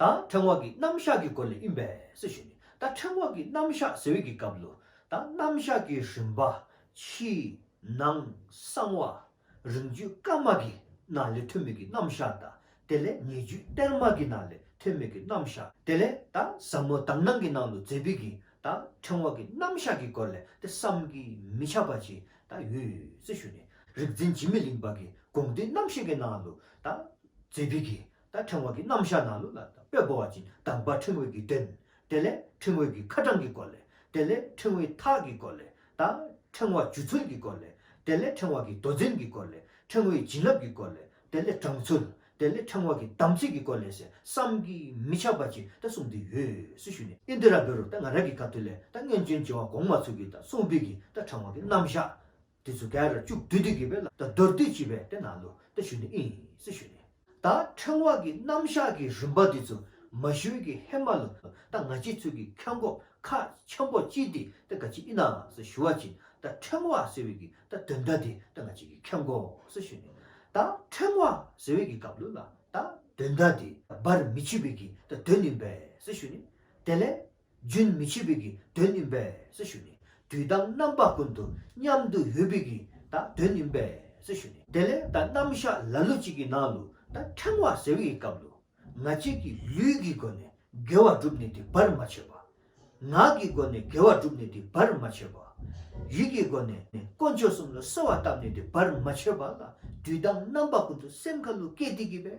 ད་ཕྲེང་བ་གི་རྣམ་གཞག་གི་སྐོར་ལས་དབྱིན་བས་སུ་ཞུས་ནས་ད་ཕྲེང་བ་གི་རྣམ་གཞག་ཟེར་བའི་གི་སྐབས་ལོ། ད་རྣམ་གཞག་གི་རིམ་པ། ཕྱི། ནང། གསང་བ། རིང་བརྒྱུད་སྐར་མ་གི་ན་ལས་ཐོན་མིག་གི་རྣམ་གཞག་དང་དེ་ལས་ཉེ་བརྒྱུད་གཏེར་མ་གི་ན་ལས་ཐོན་མིག་གི་རྣམ་གཞག་དེ་ལས་ད་ཟབ་མོ་དག་སྣང་གི་ནང་དུ་མཛད་པའི་གི་ད་ཕྲེང་བ་གི་རྣམ་གཞག་གི་སྐོར་ལས་དེ་བསམ་གྱིས་མི་ཁྱབ་པ་ཅིག་ད་ཡོད་སུ་ཞུས་ནས་རིག་འཛིན་འཇིགས་མེད་གླིང་པ་གི་དགོངས་འདུས་རྣམ་བཤད་ཀྱི་ནང་དུ་ད་མཛད་པའི་གི་དང་ཕྲེང་བ་གྱི་རྣམ་གཞག་ནང་ལུགས་ལ་དང་པོས་སྒོ་བ་ཅིང་དང་པ་ཕྲེང་བས་ཀྱི་དོན། དེ་ལས་ཕྲེང་བས་ཀྱི་ཁ་གྲངས་ཀྱི་སྐོར་ལས། དེ་ལས་ཕྲེང་བས་ཐགས་ཀྱི་སྐོར་ལས། དང་ཕྲེང་བ་འཇུ་ཚུལ་གྱི་སྐོར་ལས། དེ་ལས་ཕྲེང་བ་གྱི་མདོ་འཛིན་གྱི་སྐོར་ལས། ཕྲེང་བས་བྱིན་རླབས་ཀྱི་སྐོར་ལས། དེ་ལས་དྲངས་ཚུལ། དེ་ལས་ཕྲེང་བ་གྱི་དམ་ཚིག་གི་སྐོར་ལས་ཞེས་བསམ་གྱིས་མི་ཁྱབ་པ་ཅིག་དང་གསུངས་འདུས་ཡོད་སུ་ཞུས་ནས། ཨིན་དི་ར་བོད་རུ་དང་ང་ར་གི་སྐབས་དུས་ལས་དང་རྔན་ཅུན་བྱེ་བ་གོང་མ་ཚུལ་གྱིས་དང་གསུང་སྤེལ་གྱིས་དང་ཕྲེང་བ་གྱི་རྣམ་གཞག། དེ་ཚོ་ག་ར་ཅུག་བདུད་སྡིག་གི་བེ་ལ་ད་རྡོར་བདུད་ཅི་བེ་དེ་ནང་ལུ་ད་ཞུ་ནི་ཨིན་སི་ཞུ་ནི། ད་ཕྲེང་བ་གི་རྣམ་བཞག་གི་རིམ་པ་དེ་ཚོ་མ་ཞུས་གི་ཧེ་མ་ལུ་ད་ང་ཅི་ཚུལ་གི་ཁ་མགོ་ཁ་ཆེན་པོ་ཅི་དེ་ད་ག་ཅི་ཨི་ནང་སི་ཞུ་བ་ཅི་ད་ཕྲེང་བ་ཟེར་བི་གི་ད་དོན་ད་དེ་ད་ང་ཅི་གི་ཁ་མགོ་སི་ཞུ་ནི་ད་ཕྲེང་བ་ཟེར་བི་གི་གབ་ལུ་ལ་ད་དོན་ད་དེ་བར་མི་ཆི་བི་གི་ད་དོན་ནི་བེ་སི་ཞུ་ནི་དེ་ལས་རྒྱུན་མི་འཆད་པའི་གི་དོན་ནི་འབས་སུ་ཞུ་ནས་དུས་དང་རྣམ་པ་ཀུན་ཏུ་མཉམ་དུ་ཡོད་པའི་གི་དང་དོན་ནི་འབས་སུ་ཞུ་ནས་དེ་ལས་དང་རྣམ་གཞག་ལ་ལུས་གཅིག་གི་ནང་དུ་དང་ཕྲེང་བ་ཟེར་བའི་སྐབས་ལུས་ང་གཅིག་གི་ལུས་ཀྱི་སྒོ་ནས་དགེ་བ་བསྒྲུབས་ནས་དེ་བར་མ་ཆད་པ། ངག་གི་སྒོ་ནས་དགེ་བ་བསྒྲུབས་ནས་དེ་བར་མ་ཆད་པ། ཡིད་ཀྱི་སྒོ་ནས་དཀོན་མཆོག་གསུམ་ལ་གསོལ་བ་བཏབ་ནས་དེ་བར་མ་ཆད་པ་ལ་དུས་དང་རྣམ་པ་ཀུན་ཏུ་སེམས་ཁ་ལུ་སྐད་དེ་གི་བས་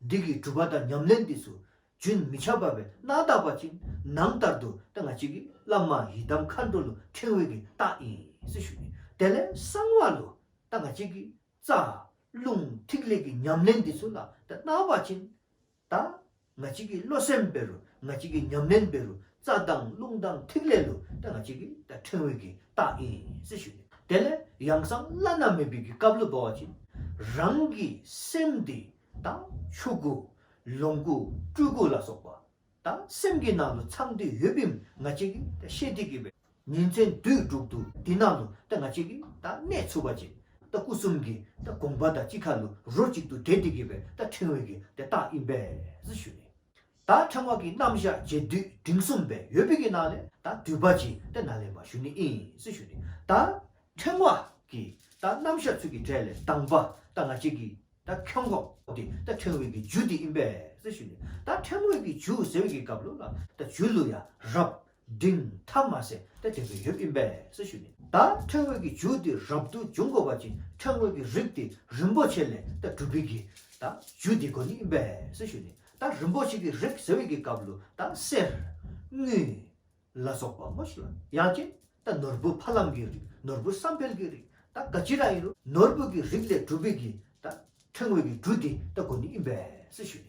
འདི་གའི་གྲུབ་པ་དང་ཉམས་ལེན་འདི་སུ་རྒྱུན་མི་འཆད་པ་བས་སྣང་དག་པ་ཅིང་ནང་ལྟར་དུ་སྟེ་ང་གཅིག་གིས་བླ་མ་ཡི་དམ་མཁའ་འགྲོ་ལུས་ཕྲེང་བའི་གི་རྟགས་ཡིན་ཞེས་ཞུ། དེ་ལས་གསང་བ་ལུ་སྟེ་ང་གཅིག་གིས་རྩ། རླུང། ཐིག་ལེ་གི་ཉམས་ལེན་འདི་སུ་ལ་སྟེ་སྣང་བ་ཅིང། ད། ང་གཅིག་གིས་བློ་སེམས་དཔེ་རུ་ང་གཅིག་གིས་ཉམས་ལེན་དཔེ་རུ་རྩྭ་དང་རླུང་དང་ཐིག་ལེ་ལུས་ཏེ་ང་གཅིག་གིས་ད་ཕྲེང་བོད་ཀྱི་རྟགས་ཡིན་ཟེར་ཞུས་ནས་དེ་ལས་ཡང་གསང་བླ་ན་མེད་པའི་གི་བཀའ་བློ་བ་བྱིན་རང་གི་སེམས་འདི་དང་ཆོས་སྐུ། ལོངས་སྐུ་སྤྲུལ་སྐུ་ལ་སོགས་པ་དང་སེམས་ཀྱི་ནང་དུ་ཚང་དུས་ཡོད་པའི་ང་གཅིག་གིས་ད་ཤེས་ཏེ་གི་བའི་ཉིན་མཚན་དུས་དྲུག་ཏུ་དེ་ནང་དུ་ད་ང་གཅིག་གིས་ད་གནས་ཚུལ་བ་བྱིན་ད་སྐུ་གསུམ་གྱི་ད་དགོངས་པ་ད་གཅིག་ཁ་ལུ་རོ་གཅིག་ཏུ་བྲལ་ཏེ་གི་བའི་ད་ཕྲེང་བོད་ཀྱི་ད་རྟགས་ཡིན་པས་ཟེར་ཞུས་ནས། ད་ཕྲེང་བ་ཀྱི་རྣམ་བཞག་རྗེས་བསྡུས་འབྲིང་གསུམ་པའི་ཡོད་པི་ཀི་ནང་ལས་ད་དུས་བ་ཅི་ཏེ་ན་ལས་མ་ཞུ་ནི་ཨིན་སི་ཞུ་ནི་ད་ཕྲེང་བ་ཀྱི་ད་རྣམ་བཞག་ཚུལ་གྱི་སྒྲས་ལས་དང་བ་ད་ང་གཅིག་གི་ད་ཁྱོད་འགོག་ཏེ་ད་ཕྲེང་བའི་ཀྱི་རྒྱུ་དེ་ཨིན་པས་སི་ཞུ་ནི་ད་ཕྲེང་བའི་ཀྱི་རྒྱུ་ཟེར་བའི་ཀྱི་གབ་ལོ་ལ་ད་རྒྱུ་ལུ་ཡ་རབས་འབྲིང་ཐ་མ་སེ་ཏེ་དེ་ཀ་ཡོད་པའི་འབས་ཞུ་ནས། ད་ཕྲེང་དངོས་ཀྱི་ཇུག་དེ་རབ་ཏུ་འབྱུང་དགོས་པ་ཅིང་ཕྲེང་དངོས་ཀྱི་རིགས་དེ་རིན་པོ་ཆེ་ལས་ད་གྲུབ་པའི་གི་ད་ཇུག་དེ་ཀ་ནི་འབས་ཞུ་ནས་ད་རིན་པོ་ཆེ་གི་རིགས་ཟེར་བའི་གི་སྐབས་ལུ་ད་གསེར། དངུལ། ལ་སོགས་པ་མོ་ཞུ་ལ་ཡང་ཅི་ད་ནོར་བུ་ཕ་ལམ་གི་རིགས་ནོར་བུ་བསམ་འཕེལ་གི་རིགས་ད་ཀ་ཅི་རང་ཡིན་རུང་ནོར་བུ་གི་རིགས་ལས་གྲུབ་པའི་གི་ད་ཕྲེང་དངོས་ཀྱི་ཇུག་དེ་ད་ཀ་ནི་འབས་ཞུ་ནས།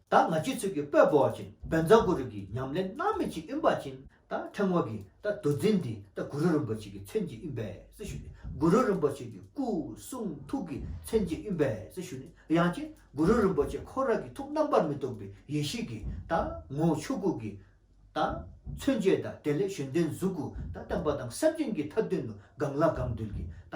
ད་ང་ཆོས་ཚུལ་གྱི་དཔལ་སྤོ་བ་ཅིང་བན་བཟའ་གུ་རུ་གྱི་ཉམས་ལེན་སྣང་མེད་ཅིག་གཡོན་པ་ཅིང་ད་ཕྲེང་བ་གིས་ད་བདུད་རྩི་འདི་ད་གུ་རུ་རིན་པོ་ཆེ་གི་མཚན་གྱི་གཡོན་པས་སུ་ཞུ་ནས་གུ་རུ་རིན་པོ་ཆེ་གི་སྐུ་གསུང་ཐུགས་ཀྱི་མཚན་གྱི་གཡོན་པས་སུ་ཞུ་ནས་ཡང་ཅིག་གུ་རུ་རིན་པོ་ཆེ་འཁོར་རང་གི་ཐུགས་རྣམ་པར་མི་རྟོག་པའི་ཡེ་ཤེས་ཀྱི་ད་ངོ་བོ་ཆོས་སྐུ་གི་ད་མཚོན་བཅས་ད་དེ་ལས་གཞན་དོན་གཟུགས་སྐུ་ད་བསྟན་པ་དང་སེམས་ཅན་གྱི་ཐབས་དོན་དུ་དགང་བླ་དགང་འདུལ་གྱི་ད་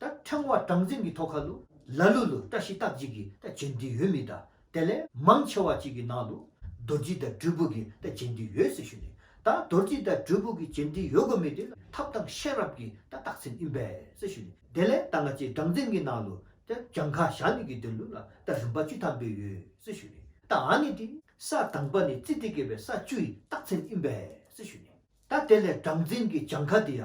ད་ཕྲེང་བ་དྲང་འཛིན་གྱི་ཐོ་ཁ་ལུ་ལ་ལུ་ལུ་བཀྲ་ཤིས་རྟགས་གཅིག་གིས་ད་བྱེད་འདི་ཡོད་མི་ད་དེ་ལས་མང་ཆེ་བ་ཅིག་གི་ནང་ལུ་རྡོ་རྗེ་ད་སྦྲུལ་བུ་གིས་ད་བྱེད་འདི་ཡོད་ཟེར་ཞུ་ནས་ད་རྡོ་རྗེ་ད་སྦྲུལ་བུ་གིས་བྱེད་འདི་ཡོད་དགོས་མེད་དེ་ལ་ཐབས་དང་ཤེས་རབ་ཀྱི་ད་རྟགས་མཚན་ཨིན་པས་ཟེར་ཞུ་ནས་དེ་ལས་ད་ང་ཅེས་དྲང་འཛིན་གྱི་ནང་ལུ་ད་གྱང་ཁ་བཞག་ནས་གི་དེ་ལུ་ལ་ད་རིམ་པ་བཅུ་ཐམ་པའི་ཡོད་ཟེར་ཞུ་ནས་ད་ཨ་ནི་དེ་ས་དང་པ་ནས་རྩི་དེ་གས་པའི་ས་བཅུའི་རྟགས་མཚན་ཨིན་པས་ཟེར་ཞུ་ནས་ད་དེ་ལས་དྲང་འཛིན་གྱི་གྱང་ཁ་དེ་ཡ་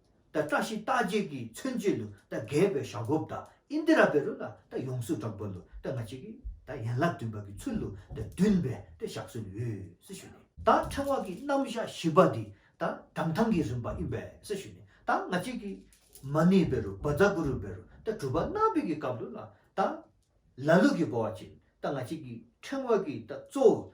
ད་བཀྲ་ཤིས་རྟགས་བརྒྱད་ཀྱིས་མཚོན་བྱེད་དུ་ད་རྒས་པའི་ཞག་སྒོབ་ད་ཨིན་དི་ར་བེ་རུ་ལ་ད་ཡོངས་སུ་གྲགས་པ་ལུ་ད་ང་གཅིག་གིས་ད་ཡན་ལག་བདུན་པ་གྱི་ཚུལ་ལུ་ད་བདུན་པའི་ད་ཞག་སོན་འོས་སུ་ཞུས་ནས། ད་ཕྲེང་བ་ཀྱི་རྣམ་བཞག་བཞི་པ་འདི་ད་གྲངས་ཐང་གི་རིམ་པ་ཨིན་པས་སུ་ཞུས་ནས་ད་ང་གཅིག་གིས། མ་ནི་བེ་རུ་བ་ཛ་གུ་རུ་བེ་རུ་ད་གྲུབ་པ་སྣང་བས་ཀྱི་སྐབས་ལུ་ལ་ད། ལ་ལུག་གི་སྒོ་བ་བྱིན་ད་ང་གཅིག་གིས་ཕྲེང་བ་ཀྱི་ད་གཙོ་བོ་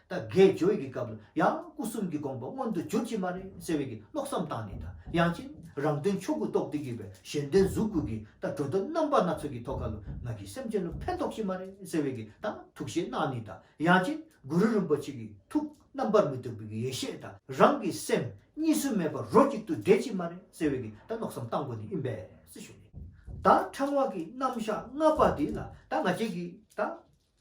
ད་གེ་སྦྱོར་གྱི་སྐབས་ལ་ཡང་སྐུ་གསུམ་གྱི་དགོངས་པ་མངོན་དུ་གྱུར་གྱི་མ་རེད་ཟེར་བའི་མནོ་བསམ་བཏང་ནས་དང་ཡང་ཕྱིན་རང་དོན་ཆོས་སྐུ་རྟོགས་བདེ་བརྒྱུད་པའི་གཞན་དོན་གཟུགས་སྐུ་གི་ད་གྲོལ་དོན་རྣམ་པ་སྣ་ཚོགས་ཀྱི་ཐོག་ཁ་ལོ་ང་གིས་སེམས་ཅན་ལ་ཕན་ཐོགས་ཀྱི་མ་རེད་ཟེར་བའི་དང་ཐུགས་བཞེད་གནང་ནས་དང་ཡང་ཕྱིན་གུ་རུ་རིན་པོ་ཆེ་གི་ཐུགས་རྣམ་པར་མི་རྟོག་པའི་ཡེ་ཤེས་དང་རང་གི་སེམས་གཉིས་སུ་མེད་པར་རོ་གཅིག་ཏུ་འདྲེས་ཀྱི་མ་རེད་ཟེར་བའི་དང་མནོ་བསམ་བཏང་གོ་ནས་ཨི་འབད་ཟེར་ཞུས་ནས་དང་ཕྲེང་བ་གི་རྣམ་བཞག་ལྔ་པ་འདི་ལ་དང་ང་བྱེད་ཀྱི་དང།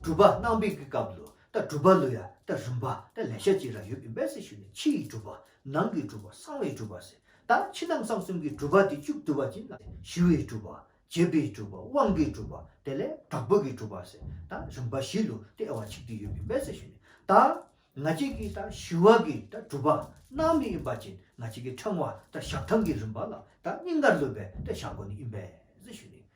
གྲུབ་པ་རྣམ་སྦས་ཀྱི་སྐབས་ལུགས་ལྟར་གྲུབ་པ་ལུགས་ཡང་དག་རིམ་པ་དང་ལས་ཤ་གཅིག་རང་ཡོད་པའི་སྦས་ཚིག་ཞུས་ནས་ཕྱི་ཡི་གྲུབ་པ། ནང་གི་གྲུབ་པ་གསང་བའི་གྲུབ་པ་ཟེར། ད་ཕྱི་ནང་གསང་གསུམ་གྱི་གྲུབ་པ་དེ་བཅུ་བསྡུ་བ་ཅན་ལ་ཞི་བའི་གྲུབ་པ། བྱེད་པའི་གྲུབ་པ་དབང་གི་གྲུབ་པ་དེ་ལས་དྲག་པོ་གི་གྲུབ་པ་ཟེར། ད་རིམ་པ་བཞི་ལུགས་ལྟའི་དབྱེ་བ་གཅིག་ཏུ་ཡོད་པའི་སྦས་ཚིག་ཞུས་ནས་ད་ང་གཅིག་གི་ད་ཞི་བ་གི་ད་གྲུབ་པ་སྣང་མེད་ཡིན་པ་ཅན་ང་གཅིག་གི་ཕྲེང་བ་ད་ཞག་ཐམས་ཀྱི་རིམ་པ་ལ་ད་སྙིང་གར་ལུད་པའི་ད་ཞག་གོ་ནི་ཡིན་པས་ཞུས་ནས་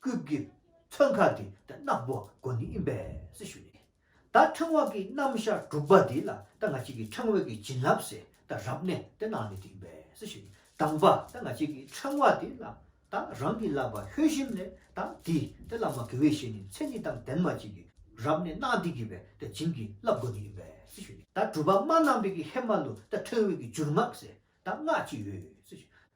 སྐུད་ཀྱི་ཚོན་ཁ་དེ་ད་གནག་པོ་དགོ་ནི་ཨིན་པས་ཞུ་ནས། ད་ཕྲེང་བ་ཀྱི་རྣམ་ཤ་དྲུག་པ་དེ་ལ་ད་ང་གཅིག་གི་ཕྲེང་བས་ཀྱི་བྱིན་རླབས་སེ་ད་རབ་ནས་དེ་གནག་ནི་དེ་ཨིན་པས་ཞུ་ནས་དང་པ་ད་ང་གཅིག་གི་ཕྲེང་བ་དེ་ལ་ད་རང་གི་བསླབ་པ་ལྷོད་ཞིམ་ནས་ད་དེ་དེ་བླ་མ་གི་བའི་ཞེ་ནི་མཚན་ནི་དང་ལྡན་མ་གཅིག་གི་རབ་ནས་གནག་དེ་གི་བས་ད་བྱིན་གྱི་རླབས་དགོ་ནི་ཨིན་པས་ཞུ་ནས་ད་གྲུ་པ་མ་རྣམ་པས་ཀྱི་ཧེ་མ་ལུ་ད་ཕྲེང་བས་ཀྱི་འཇུར་སྔགས་སེ་ད་སྔགས་ཅི་ཡོད་ཞུ་ནས།